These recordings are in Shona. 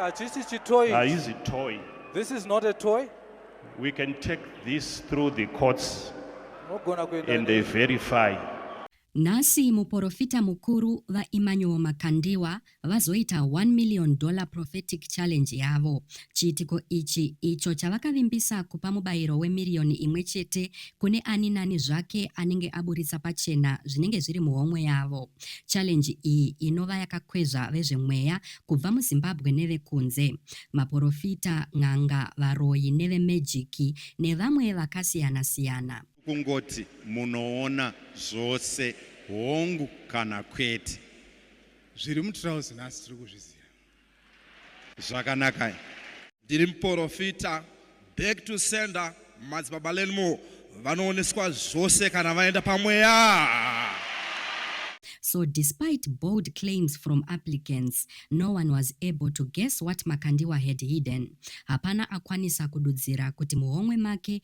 Hachisi chitoy. Haizi toy. This is not a toy. We can take this through the courts and they verify. Nhasi muporofita mukuru VaEmmanuel Makandiwa vazoita one million dollar prophetic challenge yavo. Chiitiko ichi icho chavakavimbisa kupa mubayiro wemiriyoni imwe chete kune ani nani zvake anenge aburitsa pachena zvinenge zviri muhomwe yavo. Challenge iyi inova yakakwezva vezvemweya kubva muZimbabwe nevekunze. Maporofita, n'anga, varoyi nevemejiki nevamwe vakasiyana siyana. Kungoti munoona zvose hongu kana kwete. Zviri mutrouse nhasi tiri kuzviziva. Zvakanakai. Ndiri muporofita back to sender madzibaba Learnmore vanooneswa zvose kana vaenda pamweya. So despite bold claims from applicants, no one was able to guess what Makandiwa had hidden. Hapana akwanisa kududzira kuti muhomwe make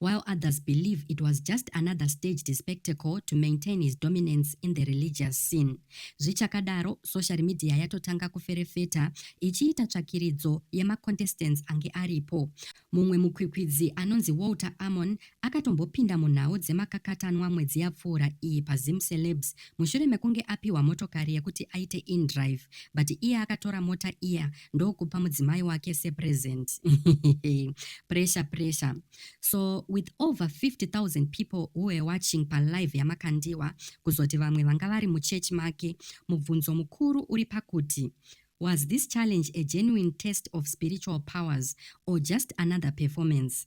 while others believe it was just another staged spectacle to maintain his dominance in the religious scene. Zvichakadaro, social media yatotanga kuferefeta ichiita tsvakiridzo yemacontestants ange aripo. Mumwe mukwikwidzi anonzi Walter Amon akatombopinda munhau dzemakakatanwa mwedzi yapfuura iyi paZim Celebs mushure mekunge apiwa motokari yekuti aite indrive but iye akatora mota iya ndokupa mudzimai wake sepresent pressure pressure so with over 50000 people who were watching palive yamakandiwa kuzoti vamwe vanga vari muchurch make mubvunzo mukuru uri pakuti was this challenge a genuine test of spiritual powers or just another performance